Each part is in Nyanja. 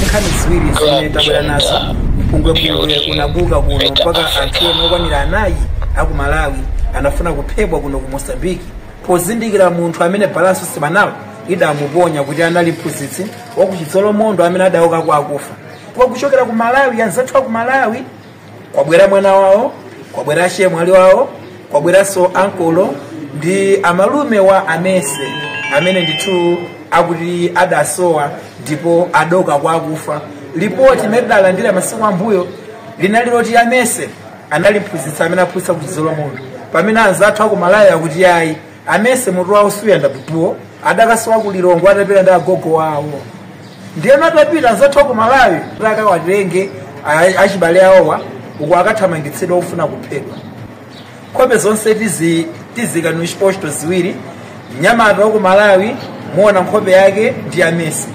nkhani ziwiri zimene tabwera nazo mpungwepungwe unabuka kuno mpaka anthu ena okwanira anayi aku malawi anafuna kuphedwa kuno ku mosambiki pozindikira munthu amene balanso simanalo idamuponya kuti anali mphunzitsi wakuchidzolomondo amene adauka kwa akufa kwa kuchokera ku malawi anzathu aku malawi kwabwera mwana wawo kwabwera chemwali wawo kwabweranso ankolo ndi amalume wa amese amene ndithu akuti adasowa ndipo adauka kwa akufa lipoti imene tidalandira masiku ammbuyo linali loti amese anali mphunzitsi amene aphunzitsa kuchidzolomondo pamene anzathu aku malawi akuti yayi amese mutu wawo suyenda bwino adakasowa ku lilongwe atapita ndi agogo wawo ndiyeno atapita anzathu aku malawi kuti akawatenge a- achibale awowa uku akathamangitsidwa ofuna kuphedwa nkhope zonse tiziika ni chiposto ziwiri mnyamata waku malawi muona nkhope yake ndi amese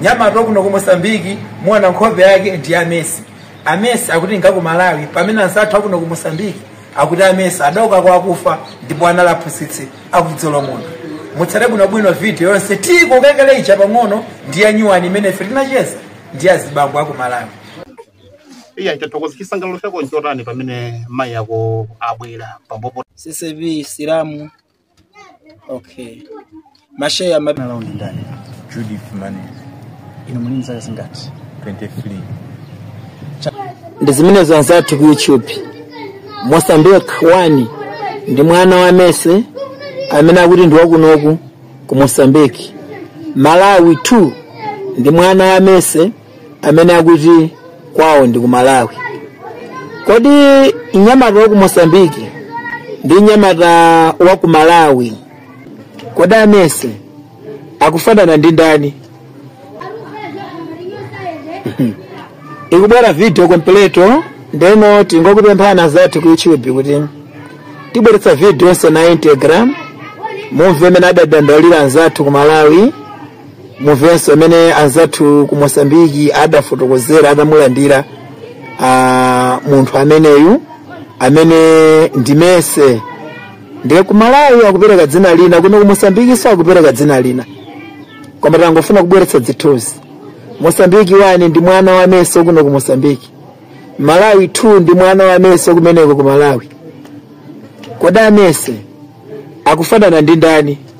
mnyamata wakuno ku mosambiki muona nkhope yake ndi amese amese akuti ngaku malawi pamene anzathu akuno ku mosambiki akuti amese adauka kwa akufa ndipo anali aphunzitsi aku chidzolomondo mutsate bwinobwino video yonse tikuikirani cha pang'ono ndi ya nyuwani imene ife tinacheza ndi azibambo aku malawi iya yathokoza chisangalalo chako nchotani pamene mayi ako abwera pambopo ccv silamu okay masheya amene Dzina lawo ndi ndani? Judith Mane, Inu muli nzaka zingati? 23. ndi zimenezo anzathu ku youtube mosambiki wani ndi mwana wa amese amene akuti ndi wakunoku ku mosambiki malawi 2 ndi mwana wa amese amene akuti kwawo ndi ku malawi kodi mnyamata wa ku mosambiki ndi mnyamata wa ku malawi kodi amese akufanana ndi ndani ikubwera video completo ndeno tingokupemphani anzathu ku youtube kuti tibweretsa video yonse na íntegra mumve mmene adadandaulira anzathu ku malawi mumvenso mmene anzathu ku mosambiki adafotokozera atamulandira ah, munthu ameneyu amene ndi mese ndiye ku malawi akupereka dzina lina kuno ku mosambikinso akupereka dzina lina koma tangofuna kubweretsa zithunzi mosambiki wani ndi mwana wa amese kuno ku mosambiki malawi 2 ndi mwana wa amese kumeneko ku malawi kodi amese akufanana ndi ndani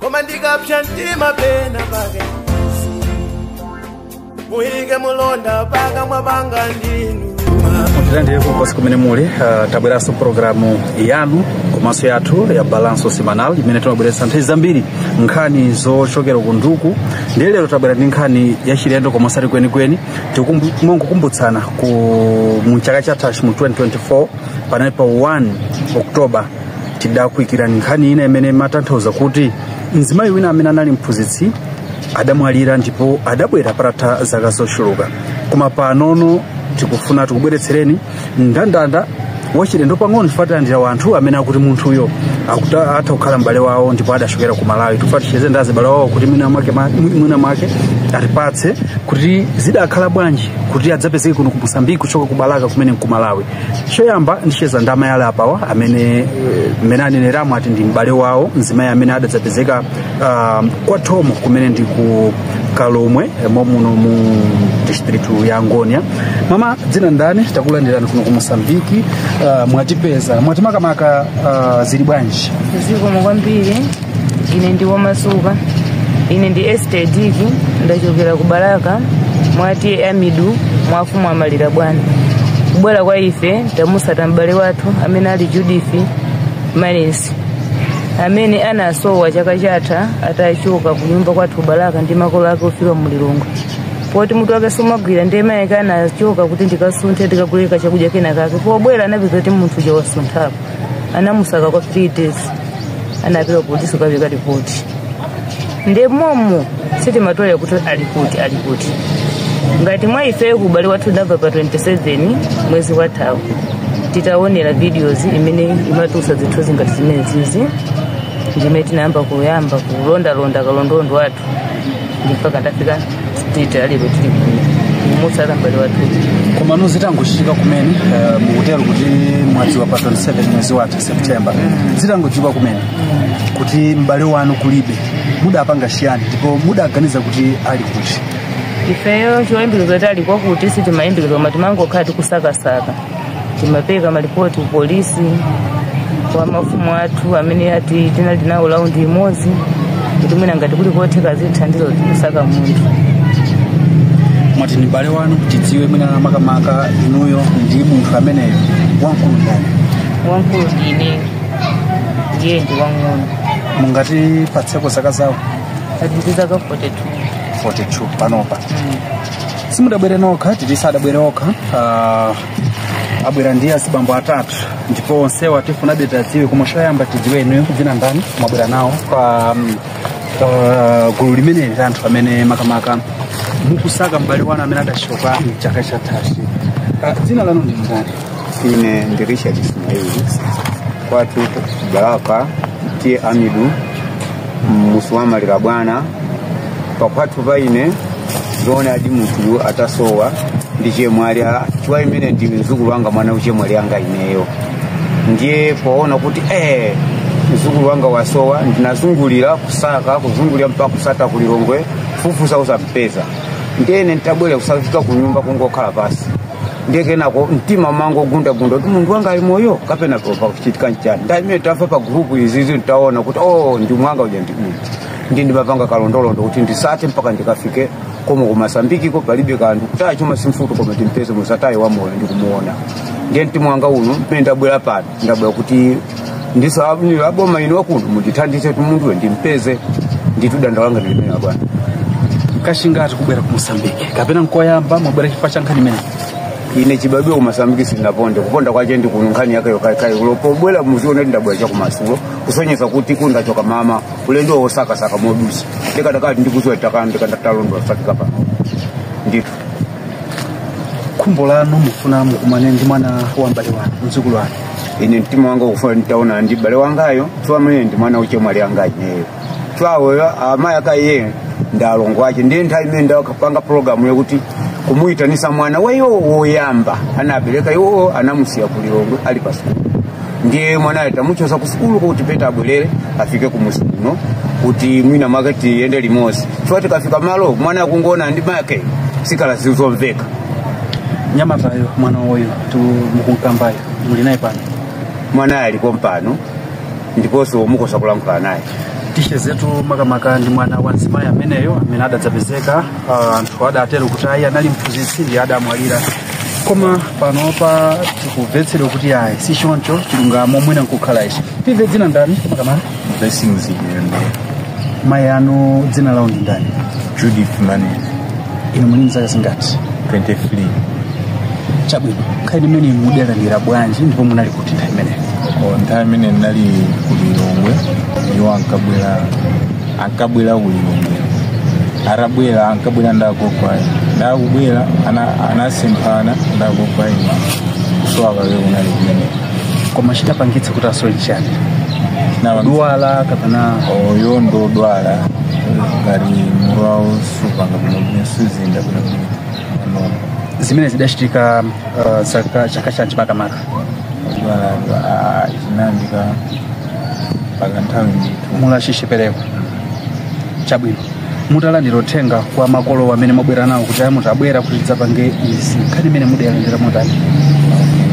koma ndikapsa mtima pena pake muike mulonda pakamwa panga ndithu mutilandire kulikonse kumene muli uh, tabweranso programu yanu komanso yathu ya balanso semanal imene timabweretsa nthawi zambiri nkhani zochokera ku nduku ndiye lero tabwera ndi nkhani yachilendo koma osati kwenikweni tikumbukumbutsana mu chaka chathachi mu 2024 panali pa 1 oktoba tidakuikirani nkhani ina imene imatanthauza kuti mzimayi wina amene anali mphunzitsi adamwalira ndipo adabwera patatha zaka zochuluka koma panono tikufuna tikubweretsereni ndandanda wachilendo pang'ono chifukwa tilandira wanthu amene akuti munthuyo akuta- atha kukhala m'bale wawo ndipo adachokera ku malawi tikufuna ticheze ndi azibale wawo kuti mwina mwake ma- mwina mwake atipatse kuti zidakhala bwanji kuti adzapezeke kuno ku mosambiki kuchoka ku balaka kumene nku malawi choyamba ndicheza ndi amayi ali apawa amene eh, mmene aneneramo ati ndi m'bale wawo mzimayi amene adadzapezeka um, kwa thomo kumene ndi ku kalomwe eh, momuno mu distritu ya angonia mama dzina ndani takulandirani kuno ku mosambiki uh, mwatipeza mwatimakamaka uh, zili bwanji zikomo kwambiri ine ndi womasuka ine ndi esther diki ndachokera ku balaka mwa t/a amidu mwa mfumu amalirabwana kubwera kwa ife tamutsata m'bale wathu amene ali judith manesi amene anasowa chaka chatha atachoka ku nyumba kwathu balaka ndi makolo ake kufika mu lilongwe poti mutu wake sumagwira ndiye mayi ake anachoka kuti ndikasunthe ndikaguleko chakudya kenakake pobwera anapeza kuti munthu uja wasunthapo anamusaka kwa 3 days anapita polisi kukapereka ripoti nde momo sitimatolera kuti ali kuti ali kuti ngati mwa ifeyo kubale wathu ndabva pa 27 mwezi wathawu titaonera videos imene imatulutsa zithunzi ngati zimenezizi ndimene tinayamba kuyamba kulondalonda kalondolondo wathu mpaka ndafika state ya lero tili kuno kumutsata m'bale wathu komano zitangochitika kumene eh, mukutero kuti mwadziwa pa 27 mwezi watha september zitangochitika kumene kuti m'bale wanu kulibe mudapanga chiyani ndipo mudaganiza kuti ali kuti ifeyo choyembekezo kuti ali kwakuti sitimayembekeza koma timangokhala tikusakasaka timapereka malipoti kupolisi kwa mafumu athu amene ati tinali nawo limodzi kuti mwina ngati kuli kotheka zithandizo kusaka munthu mwati ni mbale wanu tidziwe mwina makamaka inuyo ndi munthu ameneyo wamkulu ndani wamkulu ndine ndiye ndi wang'ono mungatipatseko zaka zawo ali ndi zaka 42 42 panopa simudabwere nokha titi sadabwere okha ah, abwera ndi azibambo atatu ndipo onsewa tifunabe tiwadziwe koma choyamba tidziwe inuyo dzina ndani mwabwera nawo pa mm, pa gulu limeneli la anthu amene makamaka mukusaka m'bale wanu amene adachoka mchaka chathachi Ah, dzina lanu ndi ndani ine ndi richard ismaili kwatu balaka T/A Amidu mfumu ya maliro bwana pakwathu pa ine ndi zoonadi munthuyu atasowa ndi chemwali a- chifukwa ameneyu ndi mzukulu wanga mwana wa chemwali anga ineyo ndiye poona kuti eh mzukulu wanga wasowa ndinazungulira kusaka kuzungulira mpaka kusata ku lilongwe fufuza osampeza ndiyene ntabwera kuzafika kunyumba kungokhala pasi ndiye kenako mtima umangogundagunda kuti munthu wanga ali moyo kapena pachitika nchani ndiye mmene tava pa gurupu izizi titaona kuti o ndi mwana wanga uja ndi uyu ndi ndinapanga kalondolondo kuti ndisate mpaka ndikafike komo ku mozambique ko palibe kanthu kutaya chuma si vuto koma timpeze m'masataye wa moyo ndikumuona ndiye mtima wanga uno mmene ndabwera pano ndabwera kuti ndiso abnilo aboma ino wakuno mundithandize munthuwe ndimpeze ndithu dandaulo langa ndi limeneli abwana kachingati kubwera ku mozambique kapena nkoyamba mwabwera chifukwa cha nkhani imeneyi ine chibadwe ku mozambique sindinaponde kuponda kwache ndi kuno nkhani yake yokhayokhayi olo pobwera muzione kuti ndabwera cha kumadzulo kusonyeza kuti ndidachoka mmawa ulendo wosakasaka modusa ndikadakati ndikuziwa takana ndikanatalondola ndafika pano ndithu khumbo lanu mufuna mukumane ndi mwana wa m'bale wanu mdzukulu wanu ine mtima wanga ukufuna nditaonana ndi m'bale wangayo chifukwa mene ndi mwana wa chemwali anga ineyo chifukwa awowo amayi ake iye ndi alongo ache ndiye nthawi imene ndakapanga pulogalamu yokuti kumuyitanisa mwana waiwo woyamba anabereka iwo anamusiya ku lilongwe ali pasukulu ndiye mwanayo tamuchosa ku sukulu kuti bwera abwerere afike kumuzi kuno kuti mwina make tiyende limodzi chifukwa tikafika malo mwana akangoonana ndi make zikhala zizomveka nyamatayo mwana woyo mukunkambayo muli naye pano mwanayo alipo pompano ndiponso mukosa kulankhula naye ticheze tu makamaka ndi mwana wa mzimayi ameneyo amene adadzapezeka ah, anthu adatero kuti ayi anali mphunzitsi ndiye adamwalira koma panopa tikumvetsedwa kuti ayi si choncho chilungamo mwina nkukhala ichi timve dzina ndani makamaka blessings yembe mayi anu dzina lawo ndi ndani judith mane inu muli mzaka zingati 23 chabwino nkhani imeneyi inu mudalandira bwanji ndipo munali kuti nthawi imeneyo Ko nthawi imene ndinali ku lilongwe iwo ankabwera ankabwera ku lilongwe atabwera ankabwera ndagogwayo ndakubwera ana- anasemphana ndagogwayo kusowa kwawo kunali kumene koma chidapangitsa kuti asowe chani Naba- odwala kapena iwo ndodwala ngati mutu wawo supanga bwinobwino suyenda bwinobwino zimene zidachitika uh, zaka chaka chanji makamaka chibalabwa ah, chinayambika mpaka nthawi ndithu mulachishipereko chabwino mutalandira uthenga kwa makolo amene mwabwera nawo kuti ayi mutabwera kuti tidzapange izi nkhani imeneyi mudayilandira motani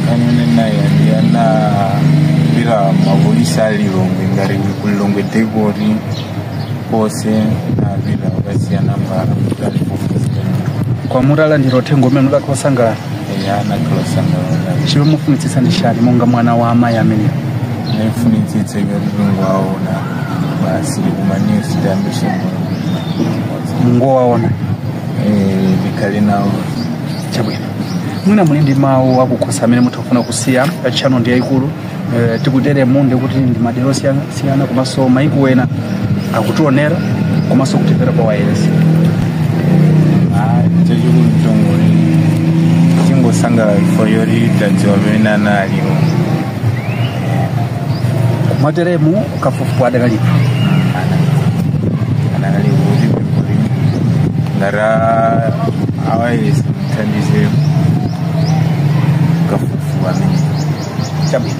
nkhani imene ndinayilandira naimbira mapolisi a lilongwe ngati ku lilongwe dekoti kose navira vakasiyana mbara mutali kufuzirana kwa mutalandira uthenga umene mudakhala osangalala eya nakhala osangalala chimene mufunitsitsa ndi chani monga mwana wa amayi amenewa nafunitsitsa kungowaona basi likumanisi tambise kungowaona ndikhale nawo chabwino mwina muli ndi mawu akukhosi amene mutha kufuna kusiya pa channel ndi yayikulu Eh, tikuteremu ndiye kuti ndi madera osiyana siyana komanso maiko ena akutionera komanso kutimvera pa wayilesi chachikulu mtongole tingosangalala ifeyo kuti tadziwa pamene ana aliwo mwateremu kafukufuku adakalipo anakali kuti pepuli ngati awayilesi mutithandizemo chabwino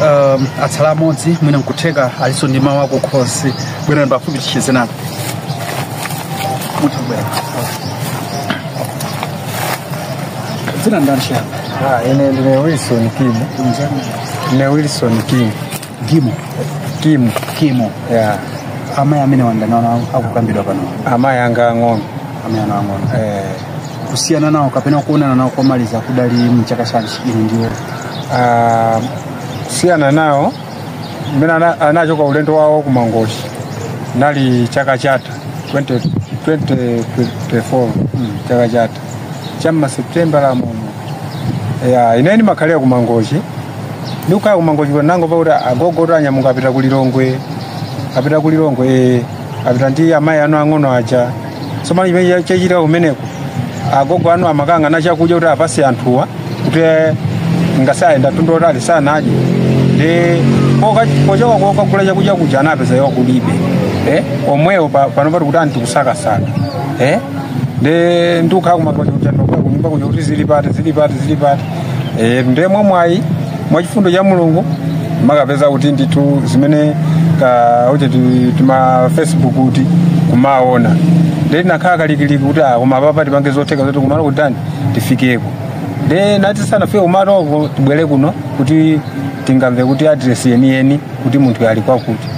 um, atsala amodzi mwina nkutheka alinso ndi mawu akukhosi bwerani pafupi ticheze nanu mutha kubwera dzina ndani chiyani Ah, ine ndine Wilson Kim. Ndine Wilson Kim. Kimu. Kimu. Kimu. Yeah. Amayi amenewa ndani wanu akukambidwa pano. Amayi anga ang'ono. Amayi anu ang'ono. Eh. Kusiyana nawo kapena kuonana nawo komaliza kudali mchaka chanji inu ndi iwo. Ah, kusiyana nawo mmene ana- anachoka ulendo wawo ku mangochi chinali chaka chatha 20- 2024 chaka chatha cha mma September la muno ya ine ndimakhalira ku Mangochi ndikukhala ku Mangochi kuti ndangomva kuti agogotu anyamuka apita ku Lilongwe apita ku Lilongwe eh, apita ndi amayi anu ang'ono aja tsopano chimene chachitika kumeneko agogo anu amakagula chakudya kuti apase anthuwa kuti asayende mtunda wautali asanadye ndi poka- pochoka kokagula chakudya kuja anapeza iwo kulibe eh, omwewo pa- pano pati kuti tikusakasaka eh? ndi ndikukhala kumakhoti kuja nokwa kunyumba kuja kuti zili pati zili pati zili pati e, ndiye mwa mwayi mwa chifundo cha mulungu nakapeza kuti ndithu zimene ka uche ti- tima facebook kuti kumaona ndiye tinakhala kalikiliki kuti ah, koma papa tipange zotheka zoti kumalo kutani tifikeko ndiye ndi tisanafike kumaloko tibwere kuno kuti tingamve kuti adiresi yeniyeni kuti munthu ali kwakuti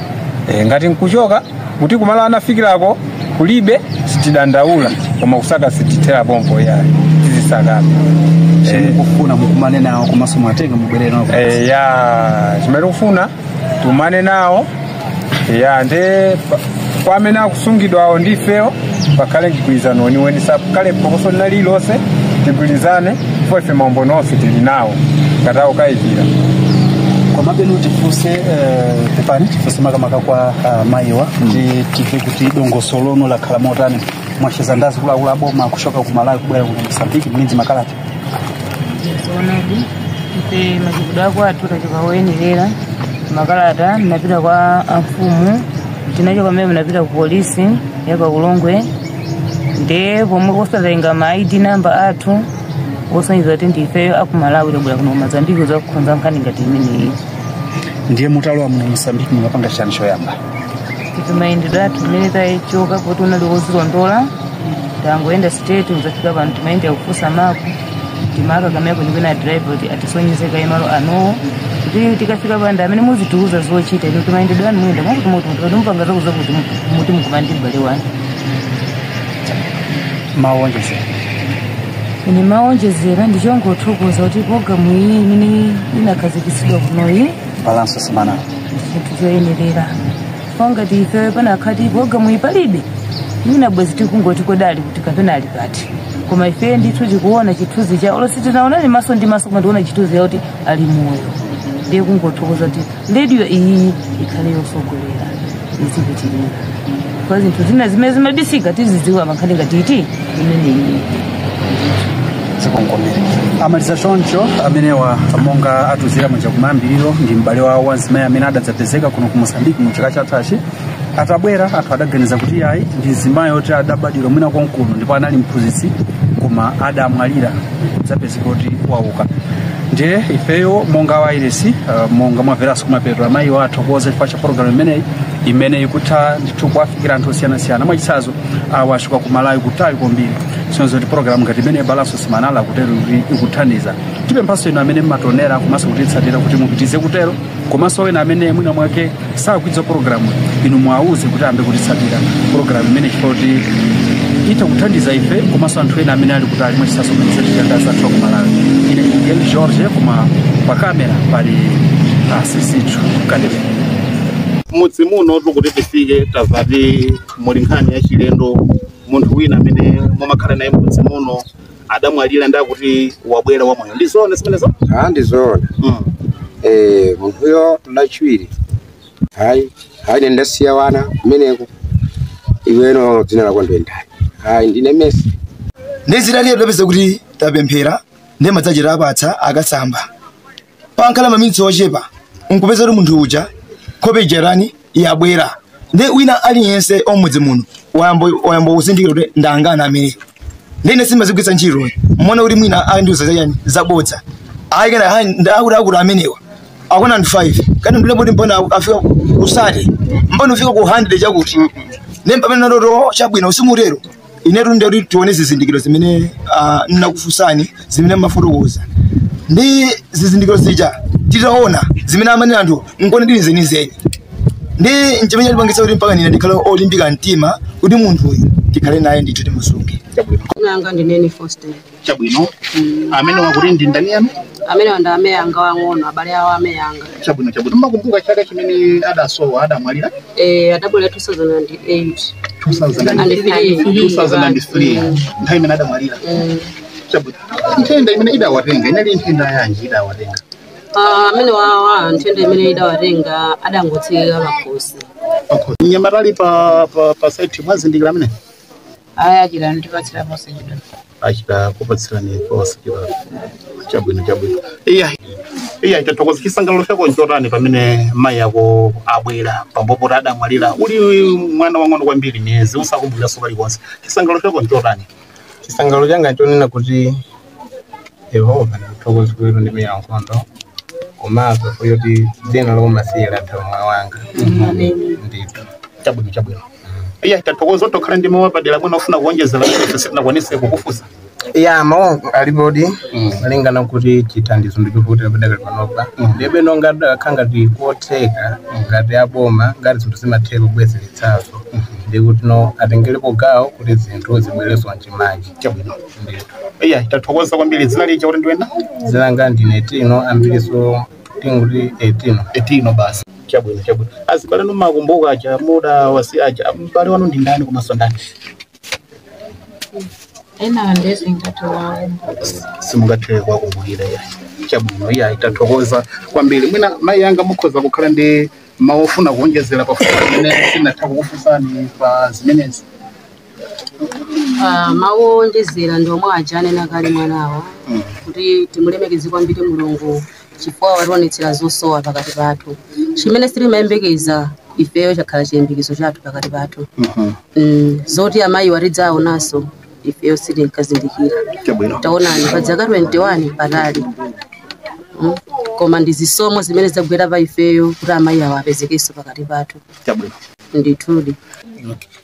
e, ngati nkuchoka kuti kumalo anafikirako kulibe sitidandaula koma kusaka sitithera pompo yayi tizisaka chifukwa tikufuna mukumane nawo komanso mwatenga mubwerere nawo Eh, ya chimene kufuna tikumane nawo ya nde pa- kwa amene akusungidwa awo ndifeyo pakhale mgwirizano weniweni pasakhale phokoso lina lililonse tigwirizane chifukwa ife maumboni onse tili nawo ngati akukayikira komabe tifunse eh, pepani tifunse makamaka kwa ah, mayiwa kuti timve kuti dongosolo lino lakhala motani mwacheza nawo akuluakulu aboma kuchoka ku malawi kubwera ku mosambiki muli ndi makalata zoonadi ife machitidwe ake athu tachoka moyenerera makalata ndinapita kwa amfumu tinachoka mmene ndinapita ku polisi ya pa Ulongwe nde pomwe kukatenga ma id number athu osonyeza kuti ndifeyo aku malawi tabwera kuno ku mozambiki kuzakonza nkhani ngati imeneyi ndiye mutalowa muno mosambiki munapanga chani choyamba kuti mayendedwe athu mmene tachoka poti unali wozilondola tangoyenda straight kuzafika pano timayenda kufunsa mapu tinafika kumeneko ndipempha driver kuti atisonyeze kaye malo anowo kuti tikafika pali amene muzitiuza zochita inu mayendedwe anu muyenda mwakuti muti mupanga zakuti zakuti kuti mukumane ndi m'bale wanu mawonjezera ine mawonjezera ndichongothokoza kuti programu iyi imene inakhazikitsidwa kunoyi balanço semanal. ndi chinthu choyenerera kwa ngati ife pakanakhala kuti pulogalamu iyi palibe mwina bwezi tikungoti kodi ali kuti kapena ali pati koma ife ndithu tikuona chithunzi cha olo sitinaonane maso ndi maso koma tikuona chithunzi yakuti ali moyo ndiye kungothokoza kuti rediyo iyi ikhale yosogolera izipitirira kwa zinthu zina zimene zimabisika tizidziwa mankhani ngati imeneyi zikongomere ndamaliza choncho amenewa monga atiuzira muja kumayambiriro ndi m'bale wawo wa mzimayi amene adadzapezeka kuno ku mosambiki mu chaka chathachi atabwera anthu adaganiza kuti ayi ndi mzimayi oti adabadwira mwina konkuno ndipo anali mphunzitsi koma adamwalira zapezeka kuti wauka ndiye ifeyo monga wailesi uh, monga mwamveranso kumapeto mayiwo athokoza chifukwa cha pologalamu imeneyi imene ikutha ndithu kuwafikira anthu osiyanasiyana mwachitsanzo awa achokera ku malawi kutali kwambiri kusonyeza kuti pologalamu ngati imene balanço semanal kutero kuti ikuthandiza tipemphanso inu amene mumationera komanso kutitsatira kuti mupitirize kutero komanso ena amene mwina mwake sakudziwa pologalamu inu mwauze kuti ayambe kutitsatira pologalamu imene chifukwa kuti itha kuthandiza ife komanso anthu ena amene ali kutali mwachitsanzo amene zachitika anzathu aku Malawi ine ndine Miguel George koma pa kamera pali a Sisithu Kadebe mmudzi muno tikuti tifike tamva kuti muli nkhani yachilendo munthu wina amene mumakhala naye mmudzi muno adamwalira nde akuti wabwera wamoyo ndi zoona zimenezo Ah, ndi zoona mm. eh munthuyo lachiwiri hayi hayi ine ndasiya wana kumeneko iwe no dzina lako ndendani hayi ndine Mesi ndizitaliye tapeza kuti tapemphera ndi madzi achita apatsa akasamba pangokhala maminitsi ochepa nkupeza kuti munthu uja nkhope ija tani yabwera nde wina aliyense wa mmudzi muno wayamba kuzindikira kuti ndi angana amene ndine sindimazigwiritsa ntchito mmaona kuti mwina andiuza chani zabodza ayikana akuti akuti amenewa akona ndi 5 kani ndule kuti mpona afika kusati mpona ufika ku 100 chakuti nde mpamene ndati chabwino usimutero inetu ndinkati tione zizindikiro zimene ah, nnakufunsani zimene mmafotokoza ndi zizindikiro zija titaona zimene amanena anthu nkuona ndi zenizeni ndi nchimene chandipangitsa kuti mpakana ndikhale olimbika mtima kuti munthuyu tikhale naye ndithu timusunge Nanga ndineni Faustin. chabwino amenewa kuti ndi ndani yanu amenewa ndi amayi anga aang'ono abale awo amayi anga chabwino chabwino mmakumbuka chaka chimene adasowa adamwalira eh adamwalira 2008 2003 nthawi imene adamwalira Mm. chabwino nthenda imene idawatenga inali nthenda yanji idawatenga Ah, amenewawa nthenda imene idawatenga adangotseka pakhosi pakhosi mnyamata ali pa pa pa site mwazindikira amene aya achita kutipatsira positi achita kupatsirani positi chabwino chabwino iya iya tathokoza chisangalalo chako nchotani pamene mayi ako abwera pambuyo poti adamwalira uli mwana wang'ono kwambiri mwina usakumbukiraso kalikonse chisangalalo chako nchotani chisangalalo changa nchonena kuti Yehova ndikuthokoza pondimenyera nkhondo komanso poti dzina la umasiye latha mmoyo wanga ndithu chabwino chabwino iya tathokoza tokhala ndi mawu apadera mwina ofuna kuonjezera kuti sitinakwanise kukufunsa ya mawu alipodi, Mm. malingana kuti chithandizo ndichovutirapo padakali panopa ndiyeno ngati kudakakhala ngati kotheka ngati aboma ngati zinthu zimatheka kubwezeretsazo ndikuti nawo atengerepo gawo kuti zinthu zibwereso mchimake chabwino iya tathokoza kwambiri dzina lija kuti ndiwe nda dzina langa ndine tino ambiliso tingoti etino etino basi chabwino chabwino azibale anu makumbuka aja mudawasiya aja mbale wanu ndi ndani komanso ndani ena ndezi ngati wawo simungathere kuwakumbukira iya chabwino iya tathokoza kwambiri mwina mayi anga mukhoza kukhala ndi mawu ofuna kuonjezera pafupi amene sinatha kukufunsani pa zimenezi Ah, mawu owonjezera ndi omwe aja anena kale mwanawa kuti timulemekeze kwambiri mulungu chifukwa wationetsera zosowa pakati pathu chimene sitimayembekeza ifeyo chakhala chiyembekezo chathu pakati pathu Mm, zoti amayiwa tidzaonanso ifeyo sitinkazindikira Chabwino. taonani pa dzaka 21 patali Mm, koma ndi zisomo zimene zagwera pa ifeyo kuti amayi awo apezekenso pakati pathu Chabwino. ndithudi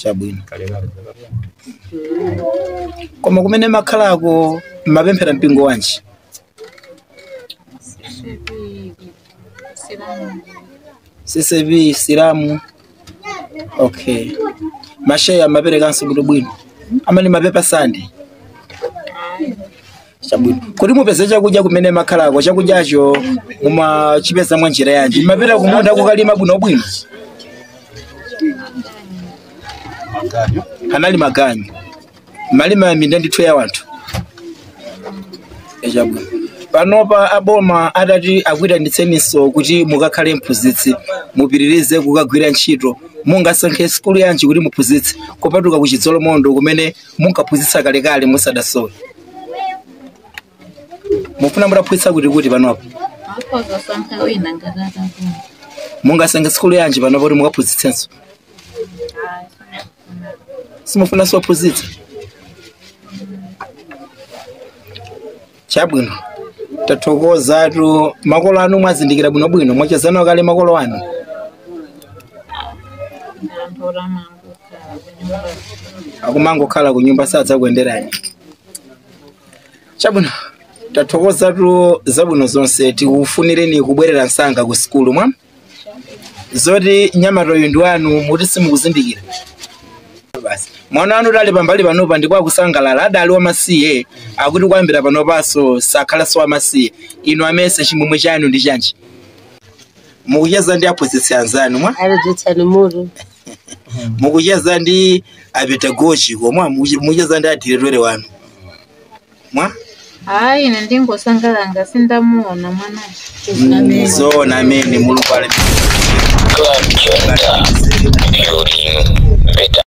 chabwino koma kumene makhalako mmapemphera mpingo wanji ccap silamu okay masheya amaperekanso kuti bwino amene mapepa sande chabwino kuti mupeze chakudya kumene makhalako chakudyacho mumachipeza mwa njira yanji mumapita kumunda kukalima bwinobwino anali maganyu malima minda ndithu ya wanthu chabwino panopa aboma atati akuitanitseninso kuti mukakhale mphunzitsi mupitirize kukagwira ntchito mungasankhe sikulu yanji kuti muphunzitse kupatuka ku chidzolomondo kumene munkaphunzitsa kalekale musadasowe mufuna mutaphunzitsa kuti kuti panopa akhoza kusankha wina ngati atakula mungasankhe sikulu yanji panopa kuti mukaphunzitsenso simufunanso kuphunzitsa chabwino tathokozatu makolo anu mwazindikira bwinobwino mwachezana kale makolo anu anthu otamanga akumangokhala ku nyumba sadzakuyenderani chabwino tathokozatu zabwino zonse tikufunireni kubwerera msanga ku sikulu mwa zoti mnyamata uyu ndi wanu muti simukuzindikira basi mwana wanutu ali pambali panopa ndipo akusangalala adali wamasiye akuti kuyambira panopanso sakhalanso wamasiye inu amese chimwemwe chanu ndi chanji mukucheza ndi aphunzitsi anzanu mwa aledzetsani mutu mukucheza ndi apedagogiko mwa mukuche- mukucheza ndi adiretore wanu mwa hayi ine ndingosangalala sindamuona mwanayo zoona amene mulungu ali